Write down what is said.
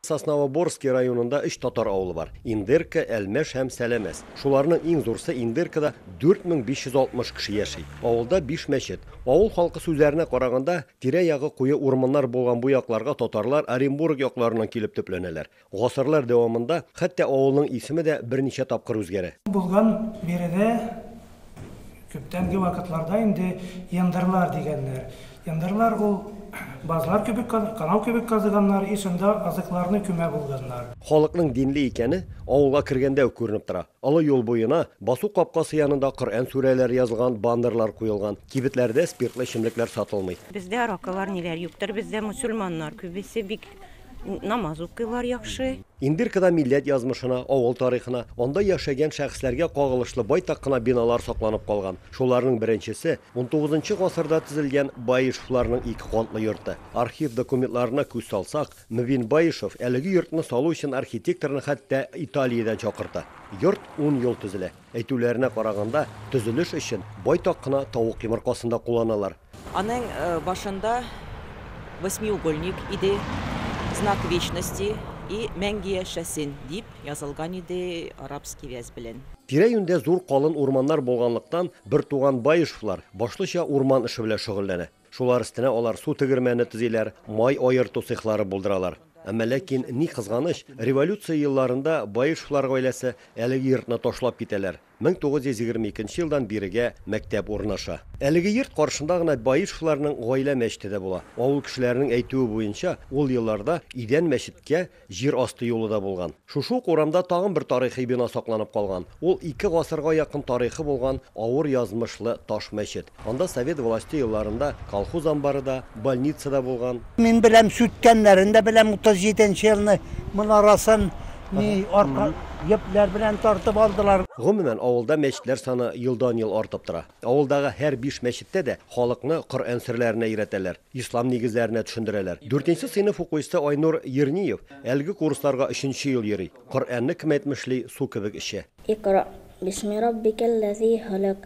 Сосновоборски районында өч татар авылы бар, Индерка, Әлмәш һәм Сәләмәс. Шуларның иң зурсы Индеркада 4560 кеше яши. Авылда биш мәчет. Авыл халкы сүзләренә караганда, тирә-ягы куе урманнар булган бу якларга татарлар Оренбург якларыннан килеп төпләнәләр. Гасырлар дәвамында хәтта авылның исеме дә берничә тапкыр үзгәрә. Булган биредә Күптәнге вакытларда инде яндырлар дигәннәр. Яндырлар ул базлар кебек каз, канау кебек казыганнар и шунда азыкларны күмә булганнар. Халыкның динле икәне авылга кергәндә үк күренеп тора. Олы юл буена, басу капкасы янында Коръән сүрәләре язылган баннерлар куелган. Кибетләрдә спиртлы эчемлекләр сатылмый. Бездә аракылар ниләр юктыр, бездә мөселманнар күбесе бик Намаз укыйлар яхшы. Имбиркада милләт язмышына, авыл тарихына, анда яшәгән шәхесләргә кагылышлы байтак кына биналар сакланып калган. Шуларның беренчесе, унтугызынчы гасырда төзелгән Баишевларның ике катлы йорты. Архив документларына күз салсак, Мөбин Баишев әлеге йортны салу өчен архитекторны хәтта Италиядән чакырта. Йорт ун ел төзелә. Әйтүләренә караганда, төзелеш өчен байтак кына тавык йомыркасын да кулланалар. Аның башында восьмиугольник иде, знак вечности и мәңге яшәсен дип язылган иде арабский вязь белән. Тирә-юньдә зур калын урманнар булганлыктан, бертуган Баешевлар башлыча урман эше белән шөгыльләнә. Шулар өстенә алар су тегермәне төзиләр, май аерту цехлары булдыралар. Әмма ләкин, ни кызганыч, революция елларында Баешевлар гаиләсе әлеге йортны ташлап китәләр. 1922 елдан бирегә мәктәп урнаша. Әлеге йорт каршында гына Баишевларның гаилә мәчете дә була. Авыл кешеләренең әйтүе буенча, ул елларда Идән мәчеткә җир асты юлы да булган. Шушы ук урамда тагын бер тарихи бина сакланып калган, ул ике гасырга якын тарихы булган авыр язмышлы таш мәчет. Анда совет власте елларында колхоз амбары да, больница да булган. Мин беләм, сүткәннәрен дә беләм, 37 нче елны монарасын ни арка йөпләр белән тартып алдылар. Гомумән, авылда мәчетләр саны елдан-ел артып тора. Авылдагы һәр биш мәчеттә дә халыкны Коръән серләренә өйрәтәләр, ислам нигезләренә төшендерәләр. Дүртенче сыйныф укучысы Айнур Ерниев әлеге курсларга өченче ел йөри. Коръәнне кем әйтмешли, су кебек эчә. Икъра бисми раббикәлләзи халәк,